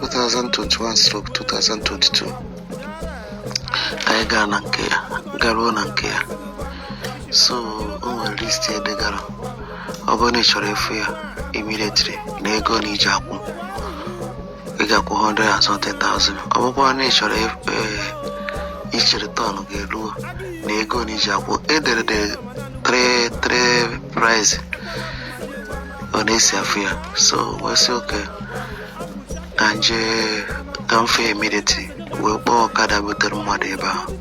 2021-2022 anyị gaa na nke ya garuo na nke ya so o nwere list e degara ọ bụrụ na ị chọrọ ịfụ ya immediately na ego na iji akwụ ị ga-akwụ 100,000 ọ bụkwa na ị chọrọ ịf- ee, ichere turn ga-eruo na ego na iji akwụ e dere 3 3 price ọ na-esi afụ ya so wee sị okay ka m je ka m fụ ya immediately wee kpọọ ọkada butere mmadụ ebe ahụ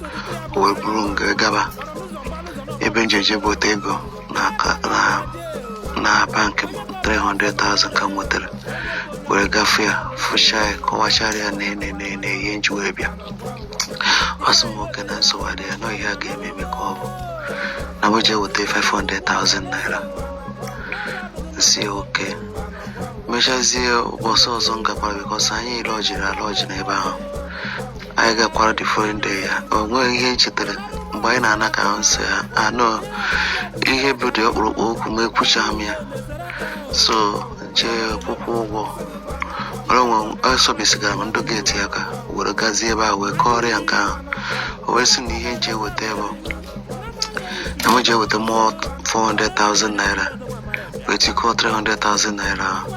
o wee buru m wee gaba ebe m je je bute ego na aka- na- na bankị m 300,000 ka m nwetara were ga fụ ya fụcha ya kọwachara ya na nee na nee ihe m ji wee bịa ọ sị m okay na nsogbu adịghị ya na ihe a ga-eme eme ka ọ bụ na m jee weta 500,000 naira sị okay mechazie ụbọchị ọzọ m gakwara because anyị lọjiri alọji n'ebe ahụ anyị gakwara the following day ya o nwere ihe m chetara mgbe anyị na-ana ka ahụ m sị ha anụ ihe bụ the ọkpụrụkpụ okwu ma ekwuchaghị m ya so jee kwụkwaa ụgwọ esọbisigara m ndị gate aka were gazie ebe a wee kọọrọ ya nke ahụ o wee sị na ihe m je eweta bụ na m jee weta more 400,000 naira wee tikọọ 300,000 naira ahụ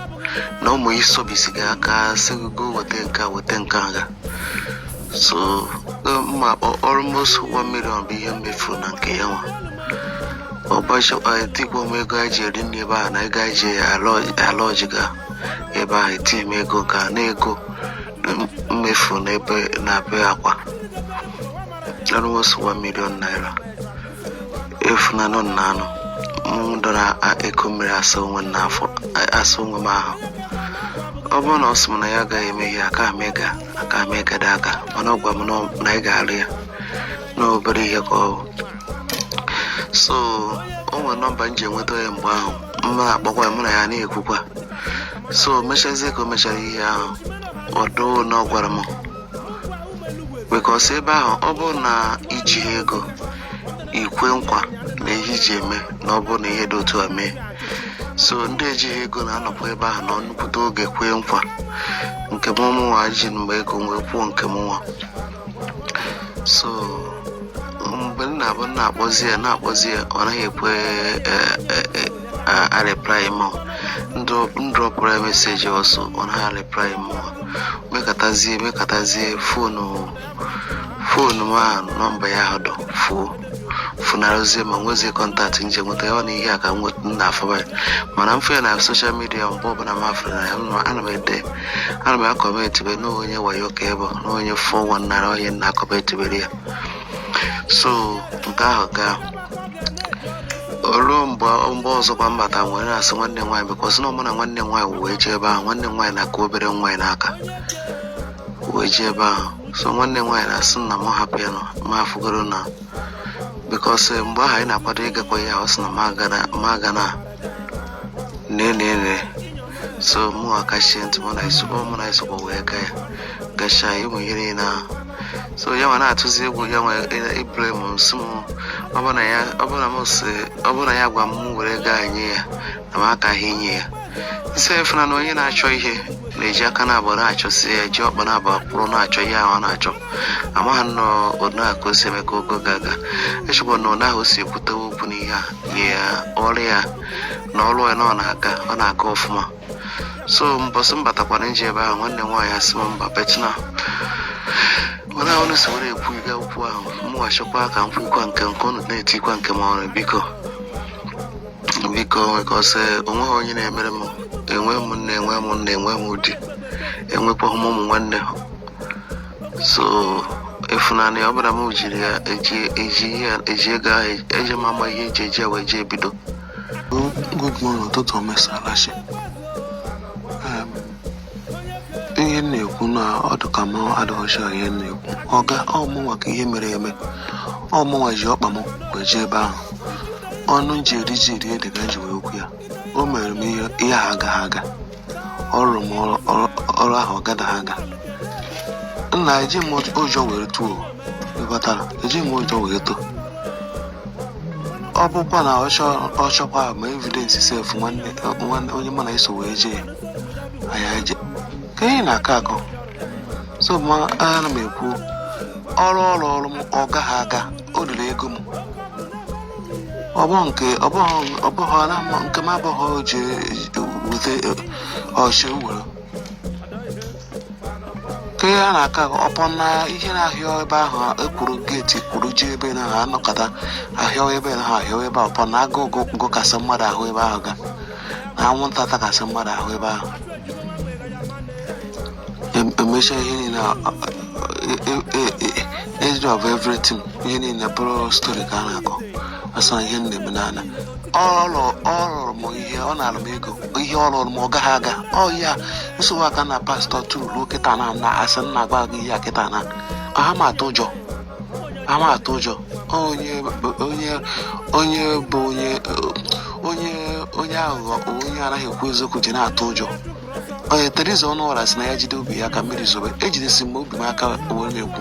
na ụmụ isobisiga aka sị gị go weta nke a weta nke a ga so eh, mma akpọ almost 1 million bụ ihe m mefu na nke ya nwa ọgbachi etikwa m ego anyị ji eri nri ebe ahụ na ego anyị ji alọji ga ebe ahụ etinye m ego nke a na ego m mefu n'ebe na be Akwa almost 1 million naira efunanụ na anụ m dọrọ a- ekuo mmiri asa onwe m n'afọ a- asa onwe m ahụ ọ bụrụ na ọ sị m na ya agaghị eme ihe aka m ịga aka m ịgada aga mana ọ gwa m na ọ- na ya ga-alụ ya na obere ihe ka ọ bụ so o nwere nọmba m ji enweta ya mgbe ahụ m na-akpọkwa ya, mụ na ya na-ekwukwa so mechazie ka o mechara ihe ahụ ọdụ na ọ gwara m because ebe ahụ ọ bụrụ na i jighị ego i kwe nkwa na ihe i je eme na ọ bụrụ na ihe dị otu a mee so ndị ejighị ego na-anọkwa ebe ahụ nọọ nnukwute oge kwee nkwa nke m mụnwa ji mgbe ego wee kwuo nke m nwa so mgbe ọ na-abụ m na-akpọzi ya na-akpọzi ya ọ naghị ekwe eh, eh, eh, a, areply m. M drọ, drọpụrụ ya message ọzọ ọ naghị areply m. Mekatazie, mekatazie phone, phone m ahụ number ya ahụ dị phone. funarụzie m enwezie kọntaktị m ji enweta ya ọ na ihe a ka m na afọba ya mana m fee na soshal midia mgbe ọbụla m afụrụ na ya ana m ede ana m akọmentịbe na onye wayo ka ebe na onye four one nine onye na-akọmentịbere ya so nke ahụ gaa ruo mgbe mgbe ọzọkwa m bata wee na-asị nwanne m nwaanyị bịkọsị na ọ mụ na nwanne m nwaanyị wee jee ebe ahụ nwanne m nwaanyị na-akụ obere nwa ya n'aka wee jee ebe ahụ so nwanne m nwaanyị na-asị na m hapụ ya na m afụgoro na bịkọsị mgbe ahụ anyị na-akwado ịgakwa ya ọ sị na m agana nenene so mụ akachie ntị mụ na ya sokwa mụ na ya sokwa wee gaa ya gacha ime ihe niile ahụ so ya nwa na-atụzi egwu ya nwa ibule m m sị m ọ bụ na ya ọ bụ na m si ọ bụ na ya gwa m mụ were gaa nye ya na m akaghị enye ya m sị ị funa na onye na-achọ ihe na-eji aka na abụọ na-achọsi ya ji ọkpa na abụọ kwụrụ na-achọ ihe ahụ ọ na-achọ amaghị na onu a ka o si eme ka ogo ga-aga echekwa na onu ahụ o si ekwutewe okwu n'ihe a nye ya ọrụ ya na ọrụ ya na ọ na-aga ọ na-aga ọfụma so mbọsị m batakwara m jee ebe ahụ nwanne m nwaanyị asị m mba betna mana ahụ na sowere ekwu ịga okwu ahụ mụghachikwa ka m kwukwa nke nke unu na-etikwa nke m ọrụ biko biko bịkọsị o nweghị onye na-emere m enwe m nne enwe m nna enwe m di enwekwaghị m ụmụ nwanne so ị funa nụ ọ bụla m jiri ya eji eji ihe a- eji ego ahụ eji m ama ihe eji eji ya wee jee ebido good morning ụtụtụ ọma ị saala chi Em, ihe m na-ekwu na ọ dị ka m adịghọ sure ihe m na-ekwu ọga ọ mụnwa ka ihe mere eme ọ mụnwa ji ọkpa m wee jee ebe ahụ ọnụ m ji eri ji eri ede ka m ji wee kwu ya o mere m ihe ihe a agaghị aga ọ rụrụ m ọrụ ahụ ọ gadaghị aga nna eji m ụjọ were too ịghọtara eji m ụjọ were too ọ bụkwa na ọ chọkwa ma evidence sef nwanne onye mụ na ya so wee jee anyị eje ka ihe na-akọ akọ so ma ana m ekwu ọrụ ọ rụrụ m ọ gaghị aga o riri ego m ọ bụ nke ọ bụ ọ bụ ọ na mma nke m abụghị o ji wute ọchị were ka ihe a na-aka ọ bụ na ihe na-ahịa ebe ahụ ekwuru geeti kwuru ji ebe na ha anọkọta ahịa ebe na ha ahịa ebe a ọ bụ na agụụ gụkasị mmadụ ahụ ebe ahụ ga anwụnta takasị mmadụ ahụ ebe ahụ Em- emecha ihe niile a- a- e- e- e- age of everything ihe niile bụrụ story ka a na-akọ asọ ihe m na-eme n'ala ọ rụ- ọ rụrụ m ihe ọ nara m ego ihe ọ rụrụ m ọ gaghị aga ọ ya nsogbu aka na pastọ tụrụ ruo kịta na na asị m na-agwa gị ihe a kịta na ha ma atụ ụjọ ama atụ ụjọ onye onye onye bụ onye onye onye aghụghọ onye anaghị ekwu eziokwu ji na-atụ ụjọ onye Theresa Ọnụọra sị na ya jide obi ya aka mmiri zobe ejidesi m obi m aka wee na-ekwu